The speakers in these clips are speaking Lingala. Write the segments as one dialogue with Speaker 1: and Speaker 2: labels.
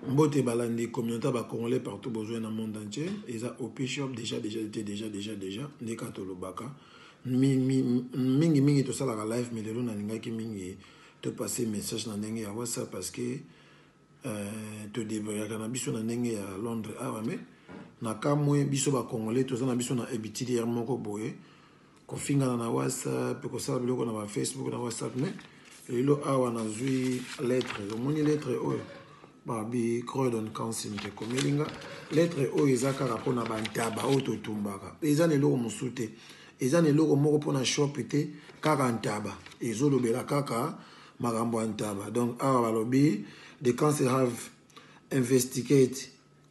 Speaker 1: Mbote balandi communaute ba congolais partout bozue na monde entier eza opishop deja deja ete deja deja deja nde kaka tolobaka mingi mingi tosalaka live mais lelo nalingaki mingi to passe message na ndenge ya whatsapp parce que euh, todebrayaka na biso na ndenge ya londres awa ah mais na kamwe biso bacongolais toza na biso na habitude ya moko boye kofingana na whatsapp kosala biloko na ba facebook na whatsapp mais lelo awa nazwi lettre omoni lettre oyo babi croydon council te komeli nga lettre oyo eza kaka mpona bantaba oyo totumbaka eza na eloko mosusu te eza na eloko moko mpona shop te kaka ntaba ezolobela kaka makambo ya ntaba donc awa balobi the council have investigate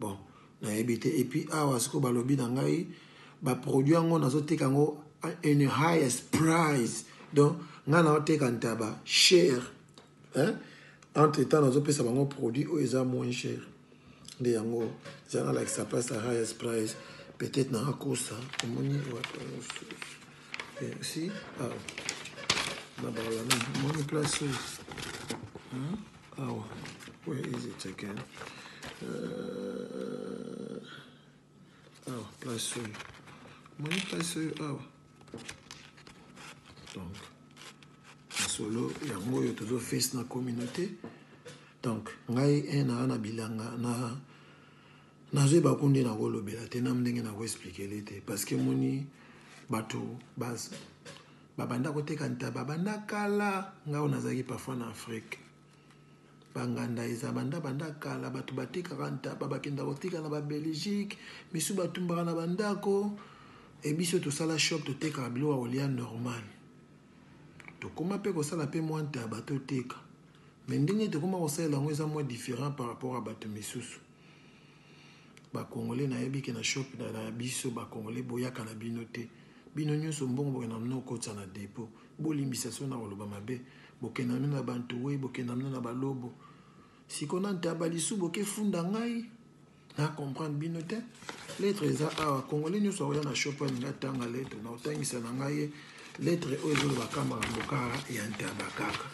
Speaker 1: Bon nayebi te epuis awa siko balobi na ngai ba produit yango nazoteka yango in highest price donc ngai naoteka ntaba cher hein? entre temps nazopesa bango produit oyo eza moins cher nde yango eza nalakisa place ya highest price peut-être naakosa omoni wapi yango susu Merci. Ah. Na bala na moni place oyo. Hein? Awa. Where is it again? Euh... Awa, place oyo. Moni place oyo awa. Donc, masolo yango oyo tozo face na communauté. Donc, ngai un na na bilanga na Nazo yeba ko nde nako lobela te na ndenge nako expliquele te parce que moni batu bas ba banda ko teka ntaba banda kala nga ona zaki parfois na Afrique ba nganda eza banda banda kala batu ba tekaka ntaba ba kenda ko tika na ba Belgique misu ba tumbaka na bandako et biso to sala shop to teka bilo wa olia normal to koma pe ko sala pe mwa ntaba to teka mais ndenge to koma ko sala ngo eza mwa different par rapport à batu misusu ba congolais na yebi ke na shop na na biso ba congolais boyaka na bino te bino nyonso mbongo bokenda na bino okotisa na depot bolimbisa so na koloba mabe bokenda na bino na bantuwe bokenda na bino na balobo siko na ntaba lisu bokefunda ngai na comprendre bino te lettre eza awa congolais nyonso akoya na shop alinga tanga lettre na otangisa na ngai ye lettre oyo ezoloba kama makambo kaka ya ntaba kaka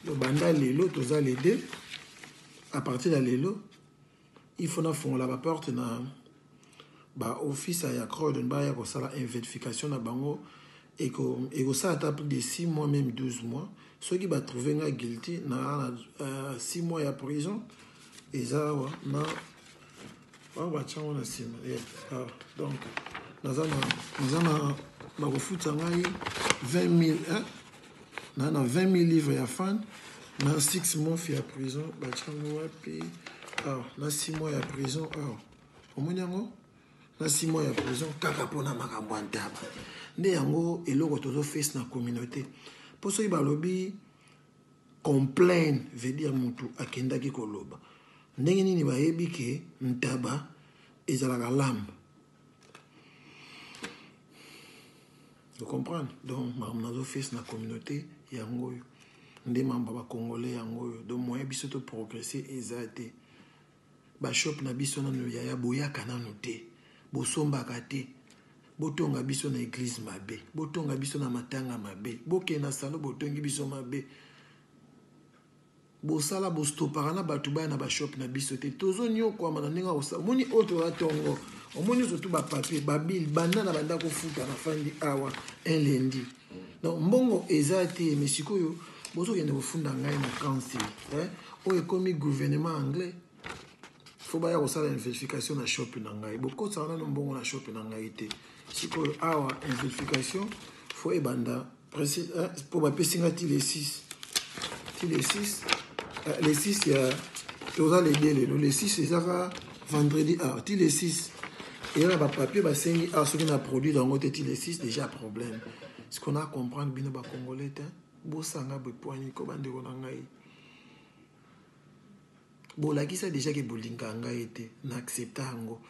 Speaker 1: lobanda lelo toza le 2 à partir ya lelo il faut nafongola baporte na baofisa ya croydon baya kosala investification na bango ekosala ata plus de 6 mois même 12 mois soki batrouve nga guilty na 6 euh, mois ya prison eza awa na bango batya yango na nsima ah, donc naza na bakofuta ngai 20 000 na na 20 000 livre ya fan na 6 mois ya prison batya yango wapi ah, na 6 mois ya prison ah, omoni yango na 6 mois ya prison kaka mpona makambo ya ntaba nde yango eloko tozofese na communauté mpo soki balobi Complain veut dire mutu akendaki koloba. Ndenge nini bayebi ke ntaba ezalaka lamb? Vous comprenez? Donc, makambo nazo face na communauté yango oyo. Nde makambo ya ba congolais yango oyo. Donc, moyen biso to progresser eza te. Ba shop na biso nanu yaya boyaka nanu te bosombaka te botonga biso na eglise mabe botonga biso na matanga mabe bokende na salon botongi biso mabe bosala bostopaka na bato baya na ba shop na biso te tozoniokwama na ndenge akosala omoni oyo toza tongo omoni ozotu bapapie babile banda na banda kofuta na fandi awa un lendi donc mbongo eza te mais sikoyo bozokende kofunda ngai na kansi eh? oyo ekomi gouvernement anglais fo baya kosala inverification na shop na ngai bokosaka nano mbongo na shop na ngai te sikoyo awa inverification fo ebanda mpo eh, bapesi ngai ti le 6 ti le 6 eh, le 6 ya toza le 2 lelo le 6 ezaka vendredi ah, ti le 6 eya na bapapier basengi ah, soki na produire yango te ti le 6 déjà problème siko na comprendre bino bacongolais te bosanga bepwani ko bandeko na ngai bolakisa déjà ke bolingaka ngai te na accepta yango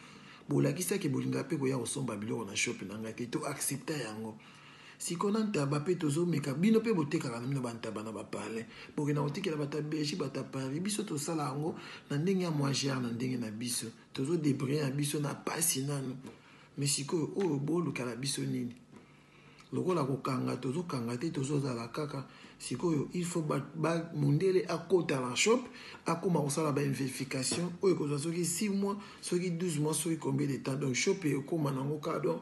Speaker 1: bolakisa ke bolingaka mpe koya kosomba biloko na shop na ngai te to accepta yango Sikoyo na ntaba pe tozo meka bino pe botekaka na bino ba ntaba na ba palais bokenda kotikela bato ya Belgique bato ya Paris biso tosala yango na ndenge ya moins gere na ndenge na biso tozo debriller na biso na pasi nanu mais sikoyo oyo boluka na biso nini lokola kokanga tozo kanga te tozo zala kaka sikoyo il faut ba, ba mundele akota na shop akoma kosala ba investification oyo ekozwa soki 6 mois soki 12 mois soki combien de temps donc shop ekoma nango kaka donc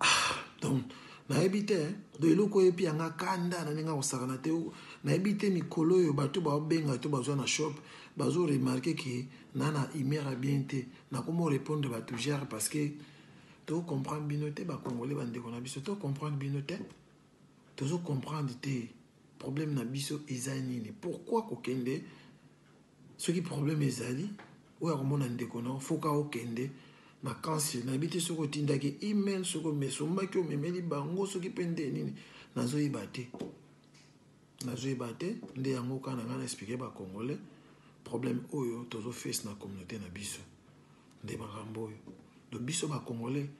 Speaker 1: Ah, donc nayebi te do eloko oyo epi yanga kanda na ndenge akosakana te nayebi te mikolo oyo bato baobenga to bazwa na shop bazo remarke ke na na humeur ya bien te nakomo répondre bato gere parce que to comprendre bino te bacongolais bandeko na biso to comprendre bino te tozo comprendre te Problème na biso eza nini? Pourquoi kokende soki problème ezali oyo akomona ndeko na foka okende na kansi nayebi te soki otindaki email soki omesombaki omemeli bango soki mpe nde nini nazoyeba te nazoyeba te nde yango kaka na ngai na explike bacongolais problème oyo tozofese na communauté na biso nde makambo oyo to biso bacongolais